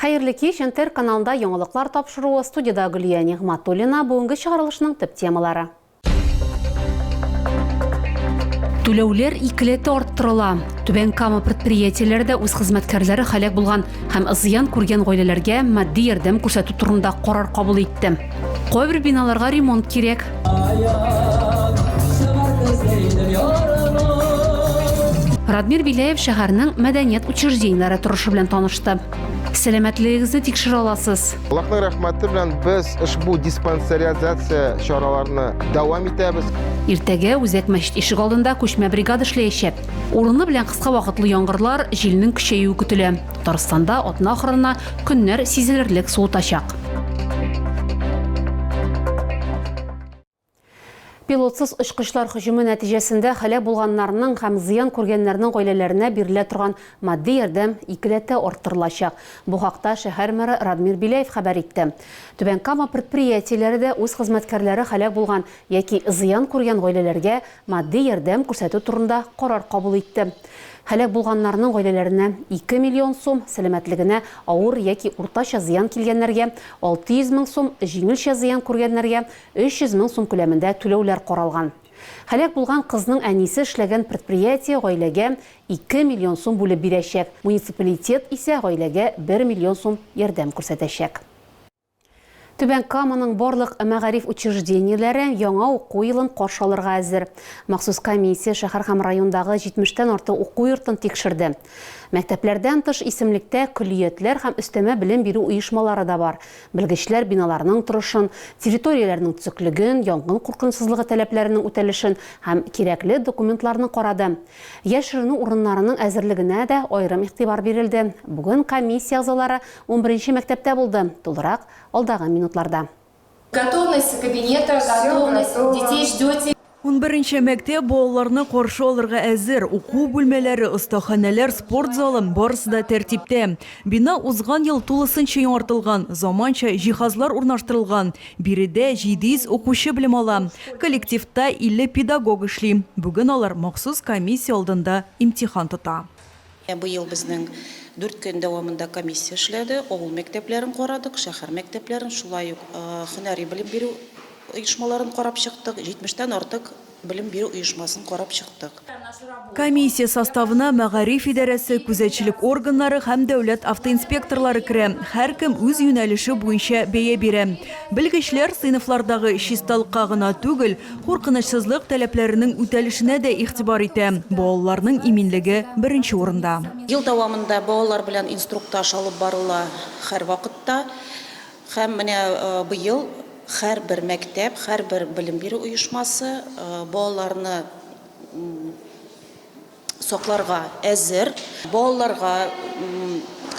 Хәерле кич, НТР каналында яңалыклар тапшыруы, студиядә Гөлия Нигъматуллина, бүгенге чыгарылышның төп темалары. Түләүләр икеләтә арттырыла. Түбән Кама предприятиеләре дә үз хезмәткәрләре һәлак булган һәм зыян күргән гаиләләргә матди ярдәм күрсәтү турында карар кабул итте. Кайбер биналарга ремонт кирәк. Радмир Беляев шәһәрнең мәдәният учреждениеләре торышы белән танышты. Сәламәтлегегезне тикшерә аласыз. Аллаһның рәхмәте белән без ошбу диспансеризация чараларны дәвам итәбез. Иртәгә үзәк мәчет ишек алдында күчмә бригада эшләячәк. Урыны белән кыска вакытлы яңгырлар, җилнең көчәюе көтелә. Татарстанда атна ахырына көннәр сизелерлек суытачак. Пилотсыз очкычлар хөҗүме нәтиҗәсендә һәлак булганнарның һәм зыян күргәннәрнең гаиләләренә бирелә торган матди ярдәм икеләтә арттырылачак. Бу хакта шәһәр мэры Радмир Беляев хәбәр итте. Түбән Кама предприятиеләре дә үз хезмәткәрләре һәлак булган яки зыян күргән гаиләләргә Матди ярдәм күрсәтү турында карар кабул итте. Һәлак булганнарның гаиләләренә, 2 миллион сум, сәламәтлегенә авыр яки уртача зыян килгәннәргә, 600 мең сум, җиңелчә зыян күргәннәргә, 300 мең сум күләмендә түләүләр каралган. Һәлак булган кызның әнисе эшләгән предприятие гаиләгә 2 миллион сум бүлеп бирәчәк, муниципалитет исә гаиләгә 1 миллион сум ярдәм күрсәтәчәк. Түбән Каманың барлык мәгариф учреждениеләре яңа уку елын каршы алырга әзер. Махсус комиссия шәһәр һәм райондагы 70 тән артык уку йортын тикшерде. Мәктәпләрдән тыш исемлектә көллиятләр һәм өстәмә белем бирү оешмалары да бар. Белгечләр биналарның торышын, территорияләрнең төзеклеген, янгын куркынычсызлыгы таләпләренең үтәлешен һәм кирәкле документларны карады. Яшеренү урыннарының әзерлегенә дә аерым игътибар бирелде. Бүген комиссия әгъзалары Унберенче мәктәптә булды, тулырак, алдагы минутларда. Готовность кабинета, готовность, детей ждете. Унберенче мәктәп балаларны каршы алырга әзер, уку бүлмәләре, остаханәләр, спорт залы, барысы да тәртиптә. Бина узган ел тулысынча яңартылган, заманча җиһазлар урнаштырылган. Биредә 700 укучы белем ала. Коллективта 50 педагог эшли. Бүген алар махсус комиссия алдында имтихан тота. Быел безнең дүрт көн дәвамында комиссия эшләде, авыл мәктәпләрен карадык, шәһәр мәктәпләрен, шулай ук һөнәри белем бирү оешмаларын карап чыктык, 70 тән артык белем бирү оешмасын карап чыктык. Комиссия составына мәгариф идарәсе, күзәтчелек органнары һәм дәүләт автоинспекторлары керә, һәркем үз юнәлеше буенча бәя бирә. Белгечләр сыйныфлардагы чисталыкка гына түгел, Куркынычсызлык таләпләренең үтәлешенә дә игътибар итә. Балаларның иминлеге беренче урында. Ел дәвамында балалар белән инструктаж алып барыла һәрвакытта. Һәм менә быел һәрбер мәктәп, һәрбер белем бирү оешмасы балаларны, сакларга әзер. Балаларга,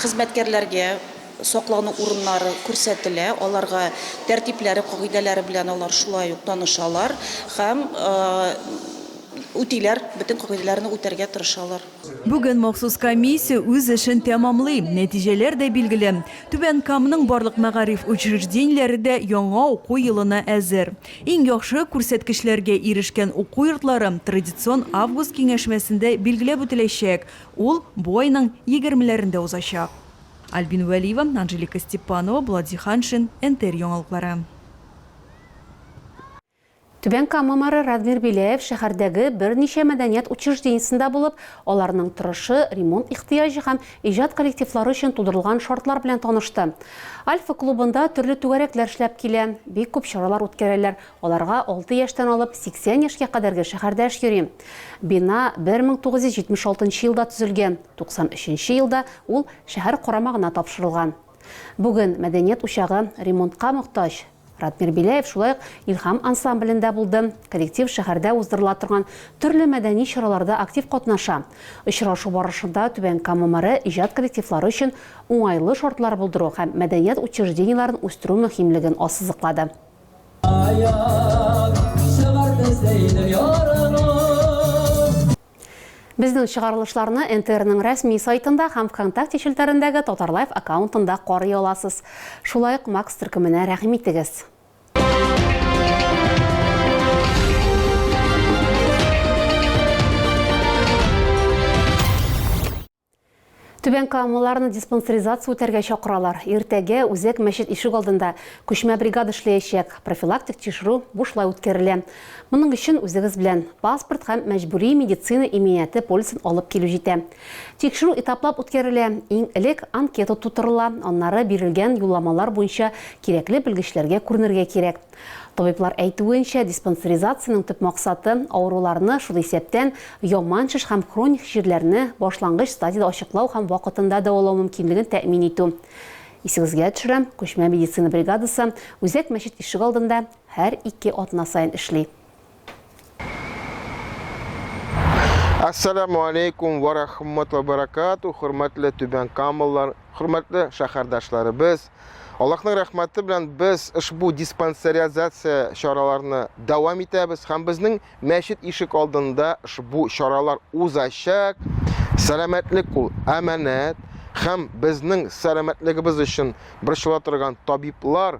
хезмәткәрләргә саклану урыннары күрсәтелә, аларга тәртипләре, кагыйдәләре белән алар шулай ук танышалар һәм үтиләр, бөтен кагыйдәләрне үтәргә тырышалар. Бүген махсус комиссия үз эшен тәмамлый, нәтиҗәләр дә билгеле. Түбән Камның барлык мәгариф учреждениеләре дә яңа уку елына әзер. Иң яхшы күрсәткечләргә ирешкән уку йортлары традицион август киңәшмәсендә билгеләп үтеләчәк, ул бу айның егермеләрендә узачак. Альбина Вәлиева, Анжелика Степанова, Булат Зиһаншин, НТР яңалыклары. Түбән Кама мэры Радмир Беляев шәһәрдәге берничә мәдәният учреждениесендә булып, аларның торышы, ремонт ихтыяҗы һәм иҗат коллективлары өчен тудырылган шартлар белән танышты. Альфа клубында төрле түгәрәкләр эшләп килә, бик күп чаралар үткәрәләр, аларга алты яшьтән алып 80 яшькә кадәрге шәһәрдәш йөри. Бина 1976 елда төзелгән, 93 нче елда ул шәһәр карамагына тапшырылган. Бүген мәдәният учагы ремонтка мохтаҗ. Радмир Беляев шулай ук Илһам ансамблендә булды. Коллектив шәһәрдә уздырыла торган төрле мәдәни чараларда актив катнаша. Очрашу барышында Түбән Кама мэры иҗат коллективлары өчен уңайлы шартлар булдыру һәм мәдәният учреждениеләрен үстерү мөһимлеген ассызыклады. Аяк чыгар бездәй дөньяга. Безнең чыгарылышларны НТРның рәсми сайтында һәм Вконтакте челтәрендәге Татарлайф аккаунтында карый аласыз. Шулай ук Макс төркеменә рәхим итегез. Түбән Камаларны диспансеризация үтәргә чакыралар. Иртәгә Үзәк мәчет ишек алдында күчмә бригада эшләячәк. Профилактик тикшерү бушлай үткәрелә. Моның өчен үзегез белән паспорт һәм мәҗбүри медицина иминияте полисын алып килү җитә. Тикшерү этаплап үткәрелә. Иң элек анкета тутырыла, аннары бирелгән юлламалар буенча кирәкле белгечләргә күренергә кирәк. Табиблар әйтүенчә, диспансеризациянең төп максаты, авыруларны, шул исәптән, яман шеш һәм хроник җирләрне башлангыч стадиядә ачыклау һәм вакытында дәвалау мөмкинлеген тәэмин итү. Исегезгә төшерәм, күчмә медицина бригадасы Үзәк мәчет ишегалдында һәр ике атна саен эшли. Ассаламу алейкум ва рахматуллахи ва баракату, хөрмәтле Түбән Камаллар, хөрмәтле шәһәрдәшләребез. Аллаһның рәхмәте белән без ошбу диспансеризация чараларны дәвам итәбез һәм безнең мәчет ишек алдында ошбу чаралар узачак. Сәламәтлек ул әманәт һәм безнең сәламәтлегебез өчен борчыла торган табиблар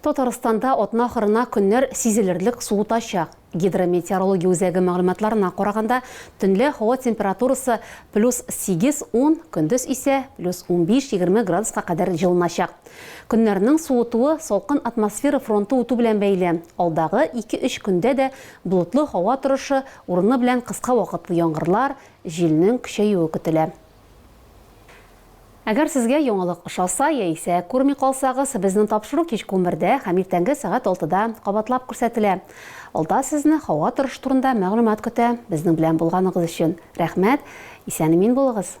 Татарстанда атна ахырына көннәр сизелерлек суытачак. Гидрометеорология үзәге мәгълүматларына караганда, төнлә һава температурасы плюс 8, ун, көндез исә плюс унбиш, егерме градуска кадәр җылыначак. Көннәрнең суытуы салкын атмосфера фронты үтү белән бәйле. Алдагы ике-өч көндә дә болытлы һава торышы, урыны белән кыска вакытлы яңгырлар, җилнең көчәюе көтелә. Әгәр сезгә яңалык ошаса яисә күрми калсагыз, безнең тапшыру кичке унбердә һәм иртәнге сәгать алтыда кабатлап күрсәтелә. Алда сезне һава торышы турында мәгълүмат көтә. Безнең белән булганыгыз өчен рәхмәт, исән-имин булыгыз!